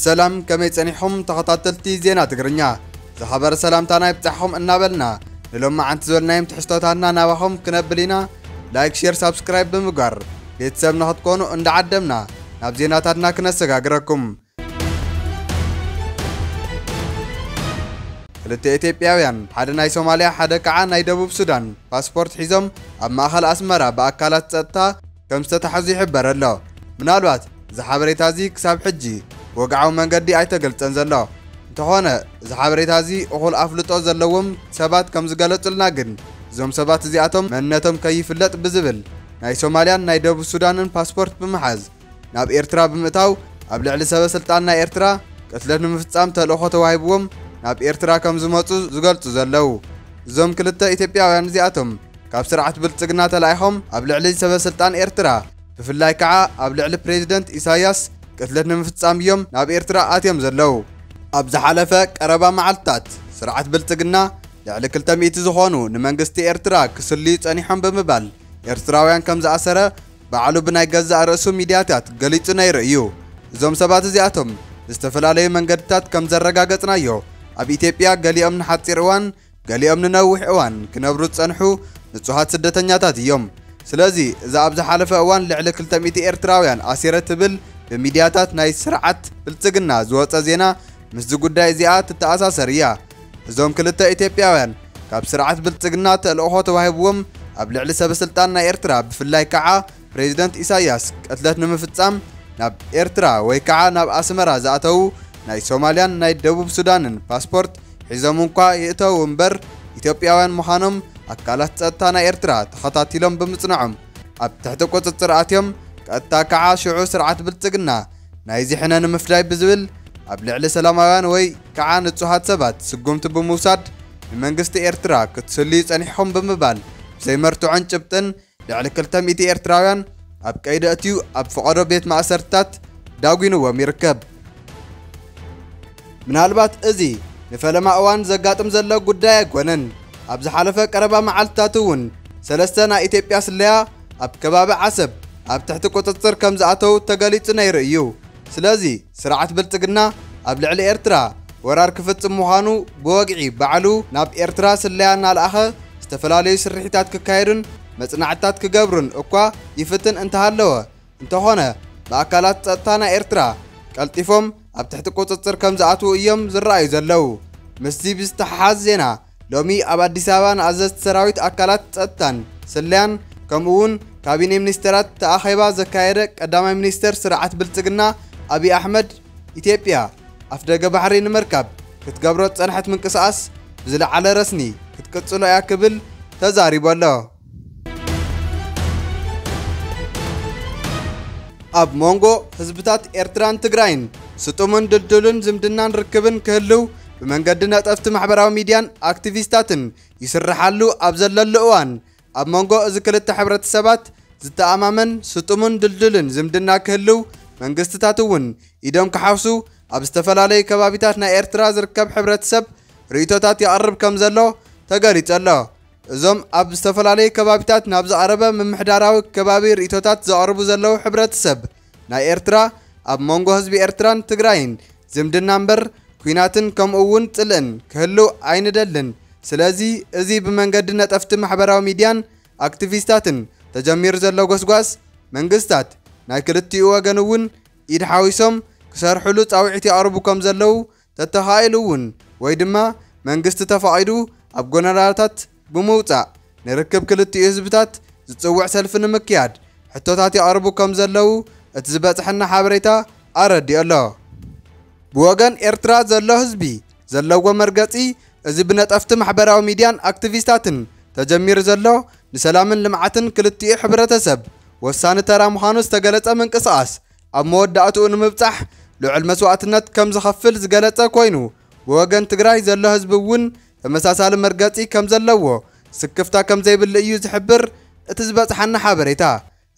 ሰላም ከመይ ጸኒሕኹም ተኸታተልቲ ዜና ትግርኛ ዝኸበረ ሰላምታና ይብጻሕኹም እናበልና ንሎም መዓንቲ ዝበልናዮም ትሕዝቶታትና ናባኹም ክነብል ኢና ላይክ ሼር ሳብስክራይብ ብምግባር ቤተሰብ ንኽትኮኑ እንዳዓደምና ናብ ዜናታትና ክነሰጋግረኩም ክልተ ኢትዮጵያውያን ሓደ ናይ ሶማልያ ሓደ ከዓ ናይ ደቡብ ሱዳን ፓስፖርት ሒዞም ኣብ ማእኸል ኣስመራ ብኣካላት ፀጥታ ከም ዝተታሕዙ ይሕበር ኣሎ። ምናልባት እዚ ሓበሬታ እዚ ክሳብ ሕጂ ብወግዓዊ መንገዲ ኣይተገልፀን ዘሎ። እንተኾነ እዚ ሓበሬታ እዚ እኹል ኣፍልጦ ዘለዎም ሰባት ከም ዝገለፁልና ግን እዞም ሰባት እዚኣቶም መንነቶም ከይፍለጥ ብዝብል ናይ ሶማልያን ናይ ደቡብ ሱዳንን ፓስፖርት ብምሓዝ ናብ ኤርትራ ብምእታው ኣብ ልዕሊ ሰበስልጣን ናይ ኤርትራ ቅትለት ንምፍጻም ተልእኾ ተዋሂብዎም ናብ ኤርትራ ከም ዝመጹ ዝገልጹ ዘለው እዞም ክልተ ኢትዮጵያውያን እዚኣቶም ካብ ስርዓት ብልጽግና ተላኢኾም ኣብ ልዕሊ ሰበስልጣን ኤርትራ ብፍላይ ከዓ ኣብ ልዕሊ ፕሬዚደንት ኢሳያስ ቅትለት ንምፍጻም እዮም ናብ ኤርትራ ኣትዮም ዘለው። ኣብ ዝሓለፈ ቀረባ መዓልትታት ስርዓት ብልጽግና ልዕሊ ክልተ ሚእቲ ዝኾኑ ንመንግስቲ ኤርትራ ክስልዩ ጸኒሖም ብምባል ኤርትራውያን ከም ዝኣሰረ ባዕሉ ብናይ ገዛእ ርእሱ ሚድያታት ገሊጹ ነይሩ እዩ። እዞም ሰባት እዚኣቶም ብዝተፈላለዩ መንገድታት ከም ዘረጋገጽናዮ ኣብ ኢትዮጵያ ገሊኦም ንሓጺር እዋን ገሊኦም ንነዊሕ እዋን ክነብሩ ዝጸንሑ ንጹሃት ስደተኛታት እዮም። ስለዚ እዛ ኣብ ዝሓለፈ እዋን ልዕሊ ክልተ ሚእቲ ኤርትራውያን ኣሲረ ትብል ብሚድያታት ናይ ስርዓት ብልጽግና ዝወጸ ዜና ምስዚ ጉዳይ እዚኣ ትተኣሳሰር እያ። እዞም ክልተ ኢትዮጵያውያን ካብ ስርዓት ብልጽግና ተልእኾ ተዋሂብዎም ኣብ ልዕሊ ሰበስልጣን ናይ ኤርትራ ብፍላይ ከዓ ፕሬዚደንት ኢሳያስ ቅትለት ንምፍጻም ናብ ኤርትራ ወይ ከዓ ናብ ኣስመራ ዝኣተዉ ናይ ሶማልያን ናይ ደቡብ ሱዳንን ፓስፖርት ሒዞም እንኳ ይእተዉ እምበር ኢትዮጵያውያን ምዃኖም ኣካላት ጸጥታ ናይ ኤርትራ ተኸታቲሎም ብምጽንዖም ኣብ ትሕቲ ቁጽጽር ኣትዮም ቀጥታ ከዓ ሽዑ ስርዓት ብልጽግና ናይዚ ሕነ ንምፍዳይ ብዝብል ኣብ ልዕሊ ሰላማውያን ወይ ከዓ ንፁሃት ሰባት ስጉምቲ ብምውሳድ ንመንግስቲ ኤርትራ ክትስልዩ ፀኒሕኹም ብምባል ብዘይ መርትዖን ጭብጥን ልዕሊ ክልተ ሚእቲ ኤርትራውያን ኣብ ቀይዲ ኣእትዩ ኣብ ፈቐዶ ቤት ማእሰርትታት ዳጒንዎም ይርከብ። ምናልባት እዚ ንፈለማ እዋን ዘጋጥም ዘሎ ጉዳይ ኣይኮነን። ኣብ ዝሓለፈ ቀረባ መዓልትታት እውን ሰለስተ ናይ ኢትዮጵያ ስለያ ኣብ ከባቢ ዓሰብ ኣብ ትሕቲ ቁጽጽር ከም ዝኣተው ተገሊጹ ነይሩ እዩ። ስለዚ ስርዓት ብልጽግና ኣብ ልዕሊ ኤርትራ ወራር ክፍጽም ምዃኑ ብወግዒ ባዕሉ ናብ ኤርትራ ስለያ እናልኣኸ ዝተፈላለዩ ስርሒታት ክካየዱን መጽናዕትታት ክገብሩን እኳ ይፍትን እንተሃለወ እንተኾነ ብኣካላት ጸጥታ ናይ ኤርትራ ቀልጢፎም ኣብ ትሕቲ ቁጽጽር ከም ዝኣትዉ እዮም ዝረኣዩ ዘለው። ምስዚ ብዝተሓሓዝ ዜና ሎሚ ኣብ ኣዲስ ኣበባ ንኣዘዝቲ ሰራዊት ኣካላት ጸጥታን ስለያን ከምኡ እውን ካቢኔ ሚኒስተራት ተኣኼባ ዘካየደ ቀዳማይ ሚኒስተር ስርዓት ብልጽግና ኣብዪ ኣሕመድ ኢትዮጵያ ኣፍደገ ባሕሪ ንምርካብ ክትገብሮ ዝጸንሐት ምንቅስቓስ ብዝለዓለ ረስኒ ክትቅጽሎ እያ ክብል ተዛሪቡ ኣሎ። ኣብ ሞንጎ ህዝብታት ኤርትራን ትግራይን ስጡምን ድልዱልን ዝምድናን ርክብን ክህልው ብመንገዲ ነጠፍቲ ማሕበራዊ ሚድያን ኣክቲቪስታትን ይስርሓሉ ኣብ ዘለሉ እዋን ኣብ መንጎ እዚ ክልተ ሕብረተሰባት ዝተኣማመን ስጡምን ድልዱልን ዝምድና ክህልው መንግስትታት እውን ኢዶም ክሓውሱ ኣብ ዝተፈላለዩ ከባቢታት ናይ ኤርትራ ዝርከብ ሕብረተሰብ ርእይቶታት የቕርብ ከም ዘሎ ተገሊጹ ኣሎ። እዞም ኣብ ዝተፈላለዩ ከባቢታት ናብ ዝቐረበ ምምሕዳራዊ ከባቢ ርእይቶታት ዘቕርቡ ዘለዉ ሕብረተሰብ ናይ ኤርትራ ኣብ መንጎ ህዝቢ ኤርትራን ትግራይን ዝምድና እምበር ኩናትን ከምኡ እውን ጽልእን ክህልው ኣይንደልን ስለዚ እዚ ብመንገዲ ነጠፍቲ ማሕበራዊ ሚድያን ኣክቲቪስታትን ተጀሚሩ ዘሎ ጎስጓስ መንግስታት ናይ ክልቲኡ ወገን እውን ኢድ ሓዊሶም ክሰርሕሉ ጻውዒት የቕርቡ ከም ዘለዉ ተተኻኢሉ እውን ወይ ድማ መንግስቲ ተፋቒዱ ኣብ ጎነራታት ብምውፃእ ንርክብ ክልቲኡ ህዝብታት ዝፅውዕ ሰልፊ ንምክያድ ሕቶታት የቕርቡ ከም ዘለዉ እቲ ዝበፅሐና ሓበሬታ ኣረዲኦ ኣሎ። ብወገን ኤርትራ ዘሎ ህዝቢ ዘለዎ መርገፂ እዚ ብነጠፍቲ ማሕበራዊ ሚድያን ኣክቲቪስታትን ተጀሚሩ ዘሎ ንሰላምን ልምዓትን ክልቲኡ ሕብረተሰብ ወሳኒ ተራ ምዃኑ ዝተገለፀ ምንቅስቓስ ኣብ መወዳእትኡ ንምብጻሕ ልዑል መስዋእትነት ከም ዝኸፍል ዝገለጸ ኮይኑ ብወገን ትግራይ ዘሎ ህዝቢ እውን ተመሳሳሊ መርገጺ ከም ዘለዎ ስክፍታ ከም ዘይብሉ እዩ ዝሕብር እቲ ዝበጽሓና ሓበሬታ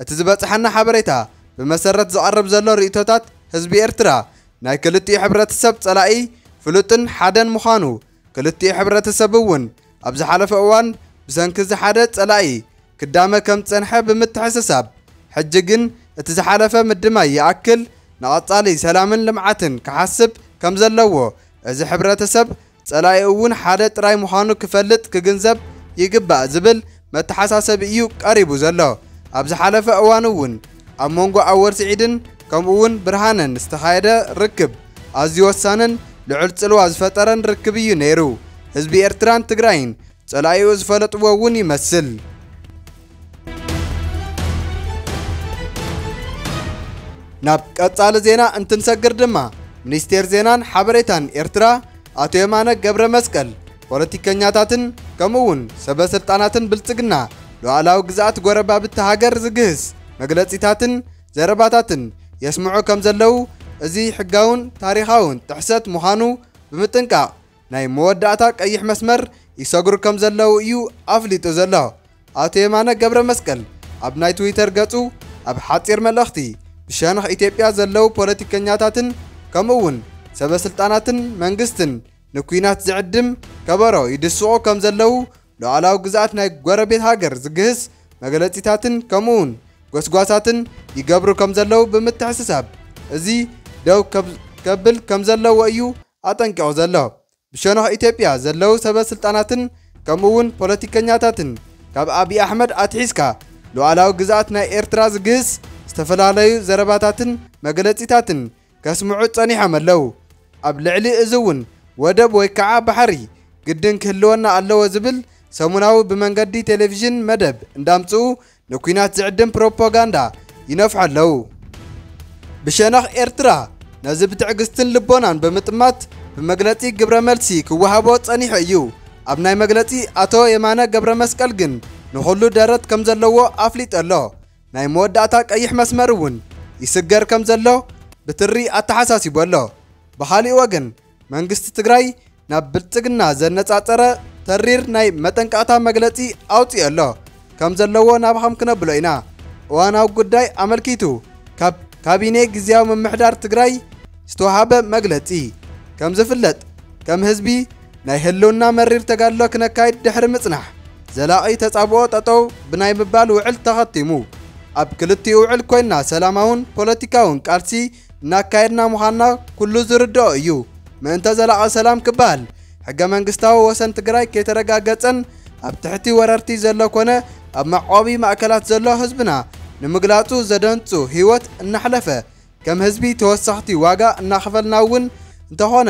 እቲ ዝበጽሓና ሓበሬታ ብመሰረት ዝቐርብ ዘሎ ርእይቶታት ህዝቢ ኤርትራ ናይ ክልቲኡ ሕብረተሰብ ጸላኢ ፍሉጥን ሓደን ምዃኑ ክልቲኡ ሕብረተሰብ እውን ኣብ ዝሓለፈ እዋን ብሰንኪ እዚ ሓደ ጸላኢ ክዳመ ከም ዝጸንሐ ብምትሕስሳብ ሕጂ ግን እቲ ዝሓለፈ ምድማይ ይኣክል ንቐጻሊ ሰላምን ልምዓትን ክሓስብ ከም ዘለዎ እዚ ሕብረተሰብ ጸላኢኡ እውን ሓደ ጥራይ ምዃኑ ክፈልጥ ክግንዘብ ይግባእ ዝብል መተሓሳሰቢ እዩ ቀሪቡ ዘሎ። ኣብ ዝሓለፈ እዋን እውን ኣብ መንጎ ኣወል ስዒድን ከምኡ እውን ብርሃነን ዝተኻየደ ርክብ ኣዝዩ ወሳንን ልዑል ፅልዋ ዝፈጠረን ርክብ እዩ ነይሩ። ህዝቢ ኤርትራን ትግራይን ፀላኢኡ ዝፈለጥዎ እውን ይመስል። ናብ ቀፃሊ ዜና እንትንሰግር ድማ ሚኒስቴር ዜናን ሓበሬታን ኤርትራ ኣቶ የማነ ገብረመስቀል ፖለቲከኛታትን ከምኡ'ውን ሰበ ስልጣናትን ብልጽግና ሉዓላዊ ግዝኣት ጎረባብቲ ሃገር ዝግህስ መግለጺታትን ዘረባታትን የስምዑ ከም ዘለዉ እዚ ሕጋውን ታሪኻውን ጥሕሰት ምዃኑ ብምጥንቃቕ ናይ መወዳእታ ቀይሕ መስመር ይሰግሩ ከም ዘለዉ እዩ ኣፍሊጡ ዘሎ። ኣቶ የማነ ገብረ መስቀል ኣብ ናይ ትዊተር ገጹ ኣብ ሓጺር መልእኽቲ ብሸነኽ ኢትዮጵያ ዘለዉ ፖለቲከኛታትን ከምኡ'ውን ሰበ ስልጣናትን መንግስትን ንኲናት ዝዕድም ከበሮ ይድስቑ ከም ዘለዉ ሉዓላዊ ግዝኣት ናይ ጎረቤት ሃገር ዝግህስ መግለጺታትን ከምኡውን ጎስጓሳትን ይገብሩ ከም ዘለዉ ብምትሕስሳብ እዚ ደው ከብል ከም ዘለዎ እዩ ኣጠንቂቑ ዘሎ። ብሸነኽ ኢትዮጵያ ዘለዉ ሰበ ስልጣናትን ከምኡውን ፖለቲከኛታትን ካብ ኣብዪ ኣሕመድ ኣትሒዝካ ሉዓላዊ ግዝኣት ናይ ኤርትራ ዝግህስ ዝተፈላለዩ ዘረባታትን መግለጺታትን ከስምዑ ጸኒሖም ኣለው። ኣብ ልዕሊ እዚ እውን ወደብ ወይ ከዓ ባሕሪ ግድን ክህልወና ኣለዎ ዝብል ሰሙናዊ ብመንገዲ ቴሌቪዥን መደብ እንዳምጽኡ ንኲናት ዝዕድም ፕሮፖጋንዳ ይነፍሑ ኣለው። ብሸነኽ ኤርትራ ነዚ ብትዕግስትን ልቦናን ብምጥማት ብመግለጺ ግብረ መልሲ ክወሃቦ ጸኒሑ እዩ። ኣብ ናይ መግለጺ ኣቶ የማነ ገብረመስቀል ግን ንኹሉ ደረት ከምዘለዎ ኣፍሊጡ ኣሎ። ናይ መወዳእታ ቀይሕ መስመር እውን ይስገር ከም ዘሎ ብትሪ ኣተሓሳሲቡ ኣሎ። ብኻሊእ ወገን መንግስቲ ትግራይ ናብ ብልፅግና ዘነፃፀረ ተሪር ናይ መጠንቀቕታ መግለፂ ኣውፂኡ ኣሎ ከም ዘለዎ ናብኻም ክነብሎ ኢና። እዋናዊ ጉዳይ ኣመልኪቱ ካብ ካቢኔ ግዝያዊ ምምሕዳር ትግራይ ዝተውሃበ መግለፂ ከም ዝፍለጥ ከም ህዝቢ ናይ ህልውና መሪር ተጋድሎ ክነካይድ ድሕሪ ምፅናሕ ዘላቒ ተጻብኦ ጠጠው ብናይ ምባል ውዕል ተኸቲሙ። ኣብ ክልቲኡ ውዕል ኮይንና ሰላማውን ፖለቲካውን ቃልሲ እናካየድና ምዃንና ኩሉ ዝርድኦ እዩ። ምእንተ ዘላቒ ሰላም ክበሃል ሕገ መንግስታዊ ወሰን ትግራይ ከይተረጋገጸን ኣብ ትሕቲ ወረርቲ ዘሎ ኮነ ኣብ መዕቆቢ ማእከላት ዘሎ ህዝብና ንምግላጹ ዘደንጹ ህይወት እናሕለፈ ከም ህዝቢ ተወሰኽቲ ዋጋ እናኸፈልና እውን እንተኾነ